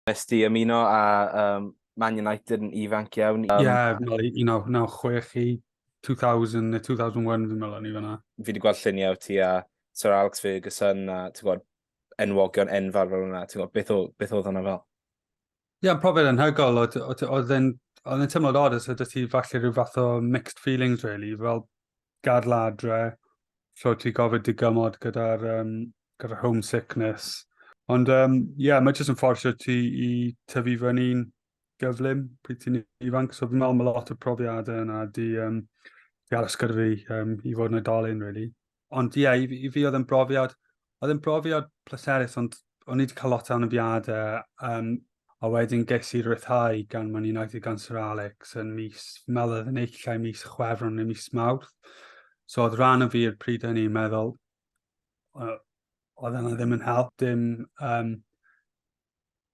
Nes di ymuno â um, Man United yn ifanc iawn. Ie, um, fel 1996 i 2000 neu 2001 fi'n meddwl o'n i fanna. Fi wedi gweld lluniau ti a Sir Alex Ferguson a ti'n gwybod enwogion enfawr fel hwnna. Ti'n gwybod beth, o, beth oedd hwnna fel? Ie, yeah, profiad anhygol. Oedd e'n oedd e'n teimlo'n odd os ydych ti falle rhyw fath o mixed feelings, really. Fel, gadl adre, so ti gofyd dy gymod gyda'r um, gyda homesickness. Ond ie, um, yeah, mae jyst yn fforsio ti i tyfu fyny'n gyflym pryd ti'n ifanc. So fi'n meddwl mae lot o profiadau yna di, um, di aros gyda fi um, i fod yn oedolyn, really. Ond ie, yeah, i, i fi oedd yn brofiad Oedd yn brofiad pleserus, ond o'n i wedi cael lot o anafiadau, um, a wedyn ges i ryddhau gan Man United gan Sir Alex yn mis, meddwl yn eich lle mis chwefron neu mis mawrth. So oedd rhan o fi i'r pryd hynny meddwl, oedd yna ddim yn help, dim, um,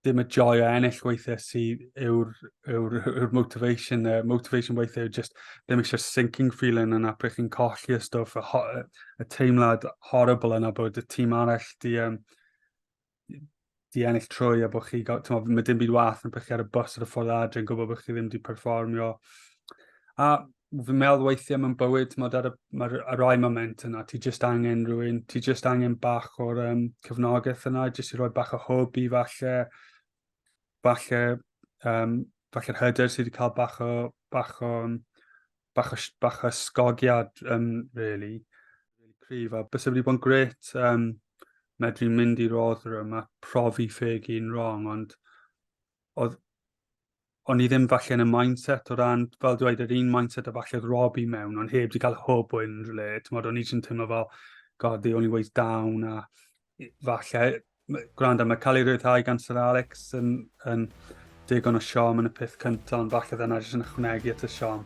dim y joy o ennill weithiau sydd yw'r yw, yw motivation. Uh, motivation weithiau yw just ddim eisiau sinking feeling yna pryd chi'n colli y stwff, y, ho, y teimlad horrible yna bod y tîm arall di, um, di ennill trwy a bod chi, mo, mae dim byd wath yn pryd chi ar y bus ar y ffordd adre yn gwybod bod chi ddim di perfformio. A fi'n meddwl weithiau mewn bywyd, mae ar y, ma ar rai moment yna, ti just angen rhywun, ti just angen bach o'r um, cyfnogaeth yna, just i roi bach o hwb i falle, falle, um, falle'r hyder sydd wedi cael bach o, bach o, bach o, bach o sgogiad, um, really, really cryf, a bys wedi bod yn gret, um, medru mynd i rodd rhywun, a profi ffeg i'n wrong, ond oedd o'n i ddim falle yn y mindset o ran, fel dweud, yr un mindset a falle rob i mewn, ond heb di cael hwb o unrhyw le. Ti'n modd, o'n i jyst teimlo fel, god, the only way's down, a falle, gwrando, mae cael ei rhyddhau gan Sir Alex yn, yn digon o siom yn y peth cyntaf, ond falle ddyna jyst yn ychwanegu at y siom.